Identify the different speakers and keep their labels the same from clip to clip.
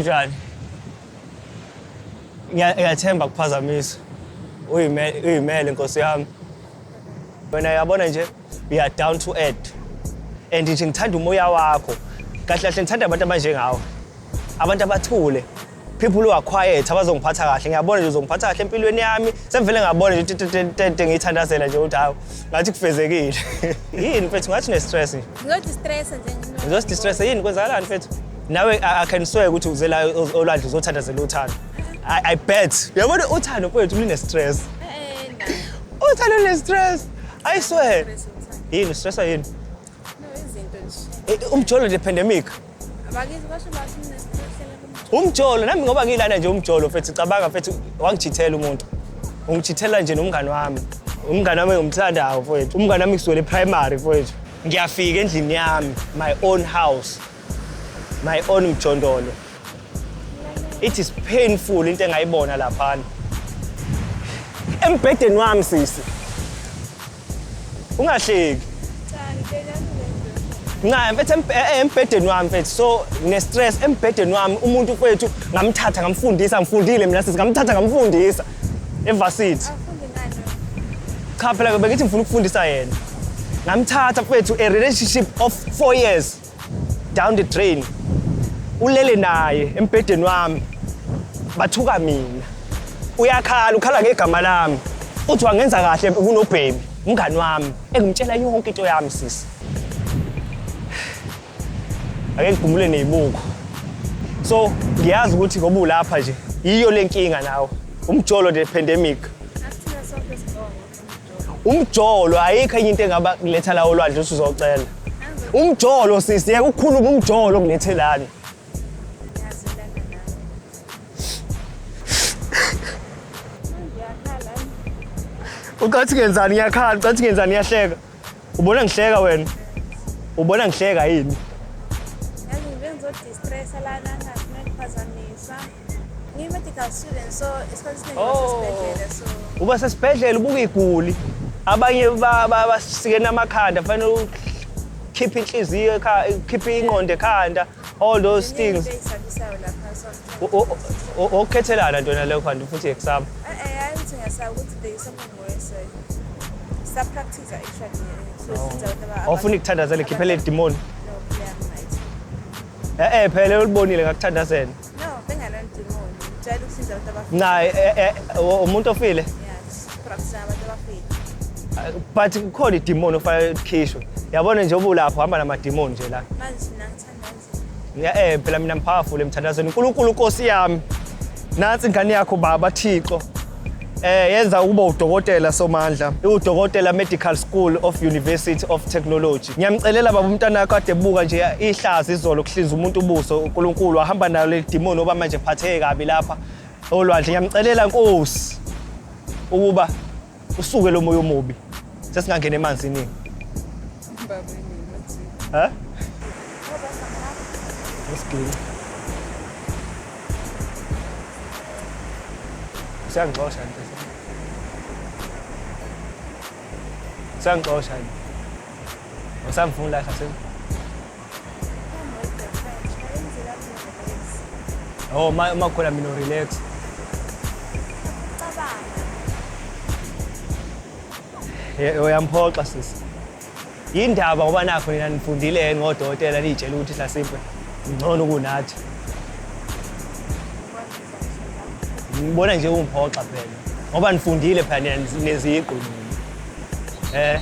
Speaker 1: Njani? Ngiya- Ngiyathemba kuphazamisa. Uyime- Uyimele nkosi yami. Wena yabona nje you are down to earth. And nje ngithanda umoya wakho. Kahle kahle ngithanda abantu abanjengawe. Abantu abathule. People who are quiet abazongiphatha kahle. Ngiyabona nje uzongiphatha kahle empilweni yami. Sengivele ngabona nje tete- tete- tete ngiyithandazela nje ukuthi hawu ngathi kufezekile. Yini mfethu ngathi ne stress nje. Ngizodistressa nje.
Speaker 2: Ngizosidistressa yini kwenzakalani
Speaker 1: mfethu? nawe akhenisweke ukuthi uze la olwandle uzothandazela uthando i bet yabona uthando mfowethu lune-stress uthando lune-stress i swear yini ustressa yini
Speaker 2: eh, umjolo nje pandemic umjolo nami
Speaker 1: ngoba ngiyilana nje umjolo mfethu cabanga mfethu wangijithela umuntu ungijithela nje nomngani wami umngani wami ngimthandayo mfowethu umngani wami kusukela eprimary mfowethu ngiyafika endlini yami my own house my own mjondolo it is painful into engayibona laphana embhedeni wami sisi ungahleki nca mfethu eh, eh, embhedeni wami mfethu so ngine-stress embhedeni wami umuntu kwethu ngamthatha ngamfundisa ngifundile mina sisi ngamthatha ngamfundisa evasithi cha phela bengithi ngifuna ukufundisa yena ngamthatha kwethu a relationship of four years down the drain ulele naye embhedeni wami bathuka mina uyakhala ukhala ngegama lami uthi wangenza kahle kunobhebi umngani wami engimtshela yonke into yami sisi ake ngigumule nezibuko so ngiyazi ukuthi ngoba ulapha nje yiyo le nkinga nawe umjolo the pandemic
Speaker 2: umjolo
Speaker 1: ayikho enye into engaba kuletha la olwandle usuzocela umjolo sisi yeke ukukhuluma umjolo kulethe lana ucathi ngenzani ngiyakhala ucathi ngenzani ngiyahleka ubona ngihleka wena ubona ngihleka yini
Speaker 2: Ngiyi-medical student so isikhathi esiningi Oh. basesibhedlela so uba sesibhedlela
Speaker 1: ubuka iguli abanye ba- ba- basikene amakhanda fanele ukhiphe inhliziyo ekha- ukhiphe ingqondo ekhanda all those ziningi things into eyisabisayo lapha so O- o- o- okukhethelana ntona leyo khanti futhi exam Eh, eh, hayi ukuthi ngiyasaba
Speaker 2: ukuthi there is something worse eh. Sa-practice actually eh, so since abantu aba- awufuni kuthandazela abantu-
Speaker 1: khiphele idimoni No,
Speaker 2: yeah, right. e-e phela ulibonile
Speaker 1: ngakuthandazela
Speaker 2: Naye eh, eh, eh, umuntu ofile. But kukhona
Speaker 1: idemoni ofanele likhishwe. Yabona nje obulapho hamba namademoni nje la. Manje mina
Speaker 2: ngithanda nje. Ya eh phela mina mpowerful
Speaker 1: emthandazweni. uNkulunkulu Nkosi yami. Nansi ingane yakho baba Thixo. Eh yenza ukuba udokotela Somandla, iwudokotela Medical School of University of Technology. Ngiyamcelela baba umntana wakho ade buka nje ihlazi izolo kuhlinza umuntu ubuso uNkulunkulu wahamba nalo le demon oba manje phatheke kabi lapha olwandle. Ngiyamcelela Nkosi ukuba usuke lo moya omubi. Sesingangena emanzini. Huh? Let's clean. Siyangixosha nje. Siyangixosha nje. Usamfuna la khasini. Oh, uma uma khona mina relax. uyamphoxa sisi yindaba ngoba nakho nina nifundile yini ngodokotela niyitshela ukuthi hlasimpe ngcono kunathi ngibona nje ungiphoxa phela ngoba nifundile phela nina neziqu eh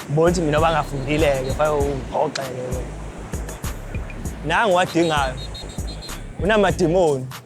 Speaker 1: bona ukuthi mina bangafundile-ke fanele ungiphoxe-ke nangu wadingayo unamadimoni